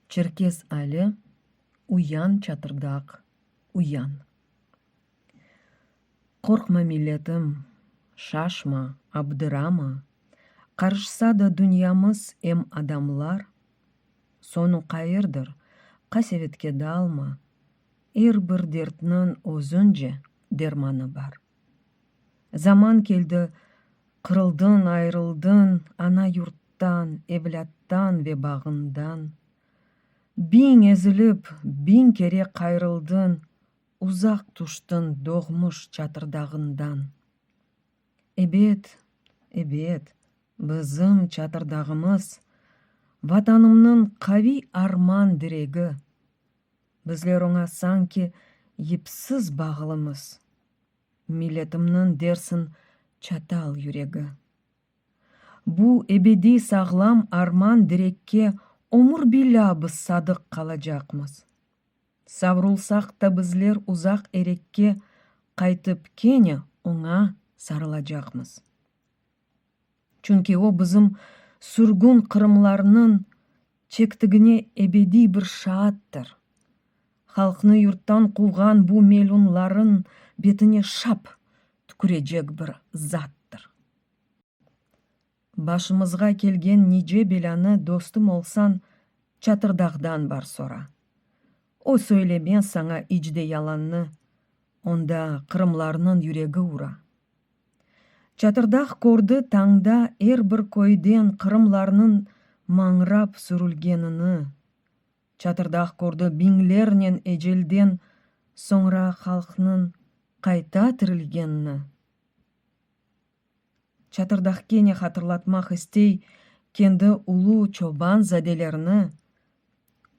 Çerkez Ali, uyan, çatırdaq, uyan! Qorqma, milletim, şaşma, abdırama, qarışsa da dünyamız em adamlar, soñu qayırdır, qasevetke dalma, er bir dertniñ özünce dermanı bar. Zaman keldi, qırıldıñ, ayırıldıñ ana yurttan, evlâttan ve bağından. Biñ ezilip, biñ kere qayrıldıñ, uzaq tüştiñ doğmuş çatırdağından. Ebet, ebet, bizim çatırdağımız, Vatanımnıñ qaviy arman diregi. Bizler oña sanki yipsiz bağlımız. Milletimniñ dersin çatal yüregi. Bu ebediy sağlam arman direkke ömür-bilâ biz sadıq qalacaqmız. Savrulsaq ta bizler uzaq erekke qaytıp kene oña sarılacaqmız. çünki o bizim sürgün qırımlarnıñ çektigine ebediy bir şaattır. Halqnı yurttan quvğan bu melunlarıñ betine şap tükürecek bir zattır. Başımızğa kelgen nice belânı dostum olsañ Çatırdağdan bar sora. O söylemez saña iç de yalannı, onda qırımlarnıñ yüregi ura. Çatırdağ kördi tañda er bir köyden qırımlarnıñ mañrap sürülgenini. Çatırdağ kördi biñlernen ecelden soñra halqnıñ qayta tirilgenini. Çatırdağ kene hatırlatmaq istey kendi ulu çoban zadelerini,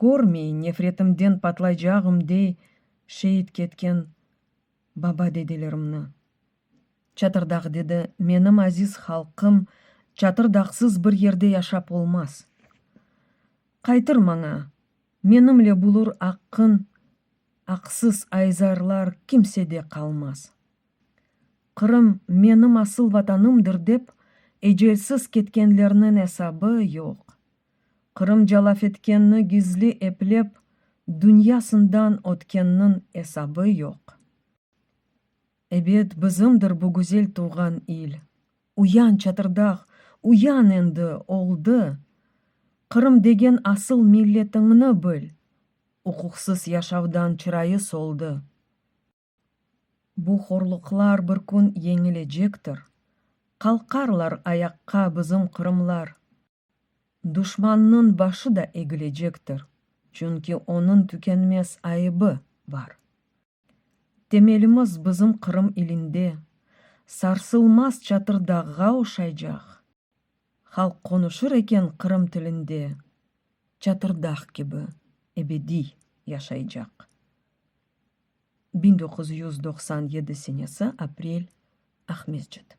körmey nefretimden patlaycağım dey şeit ketken Baba, dedelerimni. Çatırdağ, dedi, menim aziz halqım çatırdağsız bir yerde yaşap olmaz. Qaytır maña, menimle bulur aqqın, aqsız ayzarlar kimsede qalmaz. Qırım menim asıl vatanımdır dep ecelsiz ketkenlerniñ esabı yoq. Qırım calafetkenni gizli eplep, dünya sından ötkenniñ esabı yoq. Ebet, bizimdir bu güzel tuvğan il. Uyan, çatırdağ, uyan endi, oldı! Qırım degen asıl milletiñni bil! Uquqsız yaşavdan çırayı soldı. Bu horluqlar bir kün yeñilecektir, Qalqarlar ayaqqa bizim qırımlar. Duşmannıñ başı da egilecektir, Çünki onıñ tükenmez ayıbı bar. Temelimiz bizim Qırım ilinde, Sarsılmaz çatırdağğa oşaycaq. Halq qonuşır eken Qırım tilinde, Çatırdaq kibi ebediy yaşaycaq. Biñ doquz yüz doqsan yedi senesi aprel Aqmescit.